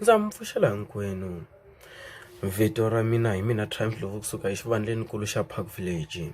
ndza mi pfuxela hinkwenu vito ra mina hi mina triumph lovo kusuka exivandlenikulu xa park village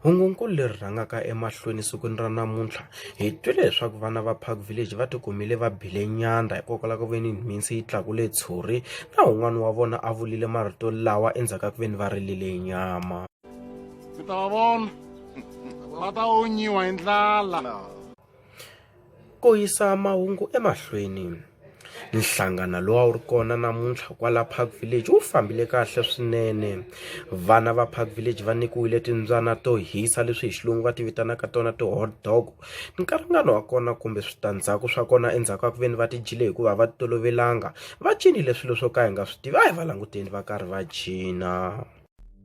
hungunkulu leri rhangaka emahlweni sikwini ra namuntlha Hi twile leswaku vana va Park Village va tikumile va bile nyandza hikokwalaho ka ku ve ni mhinsi yi tlakule tshuri na un'wana wa vona a vulile marito lawa endzhaku ka ku ve ni va rilile nyama mi ta va vona va ta onyiwa hi ndlala ku yisa mahungu emahlweni nhlangano lowu a wu ri kona namuntlha kwala park village wu fambile kahle swinene vana va park village va nyikiwile timbyana to hisa leswi hi xilungu va ti vitanaka tona ti-hot dog nkarhingani wa kona kumbe switandzhaku swa kona endzhaku ka ku ve ni va ti dyile hikuva va ti tolovelanga va cinile swilo swo ka hi nga swi tivi a hi va languteni va karhi va cina.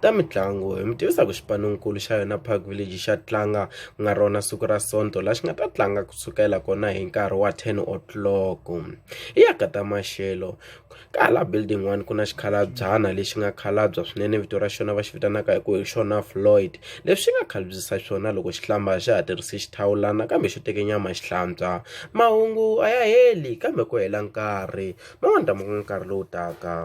ta mitlangu hi mi tivisa ku xipanonkulu xa yona park village xa tlanga ku nga rona siku ra sonto la xi nga ta tlanga kusukela kona hi nkarhi wa 10 o'clock hi ya ka ta maxelo kala building one ku na xikhalabyana lexi nga khalabya swinene vito ra xona va xi vitanaka hi ku hi xona floyd leswi nga khalbyisa swona loko xi hlamba xi ha tirhise xithawulana kambe xo teke nyama xi hlantswa mahungu a ya heli kambe ku hela nkarhi ma n'wi ndhavuko nkarhi lowu taka